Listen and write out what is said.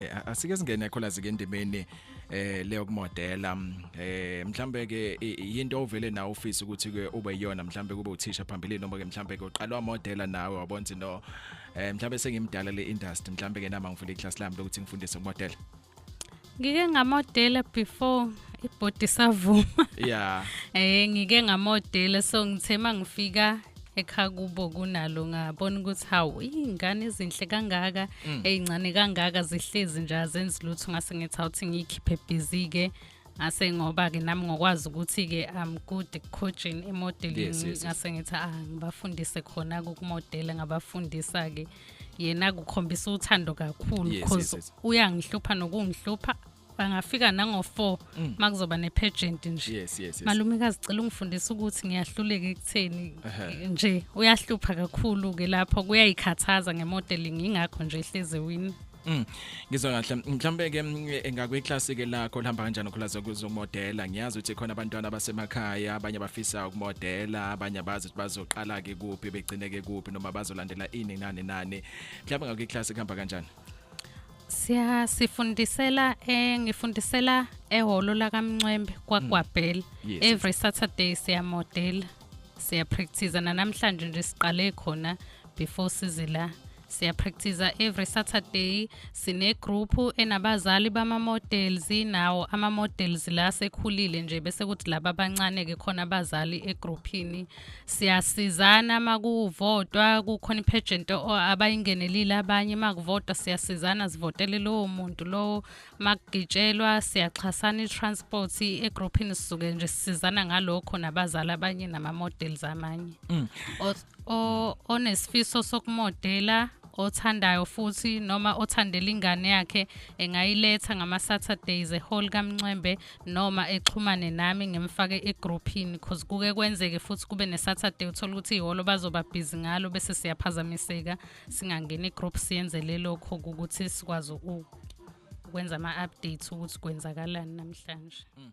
eh, asike singene kholazi ke endimeni eh leyo kumodela mm, eh mhlambe ke into ovele na office ukuthi ke ube yona mhlambe kube uthisha phambili noma ke mhlambe ke uqalwa modela nawe wabona ukuthi no eh mhlambe sengimdala le industry mhlambe ke nama ngifuna iclass lami lokuthi ngifundise kumodela ngike ngamodela before ibhodi savuma yeah eh ngike ngamodela so ngithe mangifika ekhaya kubo kunalo ngabona ukuthi hawu iy'ngane ezinhle kangaka mm. ey'ncane kangaka zihlezi nje azenzi lutho ngase ngithi awuthi ngiyikhiphe bhizi-ke ngase ngoba-ke nami ngokwazi ukuthi-ke am good coaching emodeling ngase ngithi ah ngibafundise khona kukumodela ngabafundisa-ke yena kukhombisa uthando kakhulu because uyangihlupha nokungihlupha bangafika nango-four mm. uma kuzoba ne-pageant nje yes, yes, yes. malumekazi cela ungifundisa ukuthi ngiyahluleka ekutheni nje uyahlupha kakhulu-ke lapho kuyayikhathaza ngemodeling ingakho nje ehleze wini Mm. Ngizwa kahle. Mhlambe ke mm, eh, ngakweclass ke lakho lihamba kanjani ukhulaza kuzomodela. Ngiyazi ukuthi khona abantwana abasemakhaya, abanye abafisa ukumodela, abanye abazi ukuthi bazoqala ke kuphi, begcine ke kuphi noma bazolandela ini nani nani. Mhlambe ngakweclass kuhamba kanjani? siya sifundisela eh ngifundisela ehholo lakamncwembe kwagwabhela mm. yes. every saturday siyamodela siyapractice nanamhlanje nje siqale khona before sizila siyapractice every saturday sinegroup enabazali bama-models nawo ama-models la sekhulile nje bese kuthi laba abancane-ke khona abazali egruphini siyasizana uma kuvotwa kukhona iphejenti abayingenelile abanye uma kuvotwa siyasizana sivotele lowo muntu lowo uma kugitshelwa siyaxhasana i-transport egruphini sisuke nje sisizana ngalokho nabazali abanye nama-models amanye mm. onesifiso sokumodela othandayo futhi noma othandela ingane yakhe engayiletha ngama-saturdays ehall kamncwembe noma exhumane nami ngimfake egrouphini cause kuke kwenzeke futhi kube nesaturday uthola ukuthi ihholo bazoba busy ngalo bese siyaphazamiseka singangeni egroup siyenzele lokho ukuthi sikwazi ukwenza ama-updates ukuthi kwenzakalani namhlanje mm.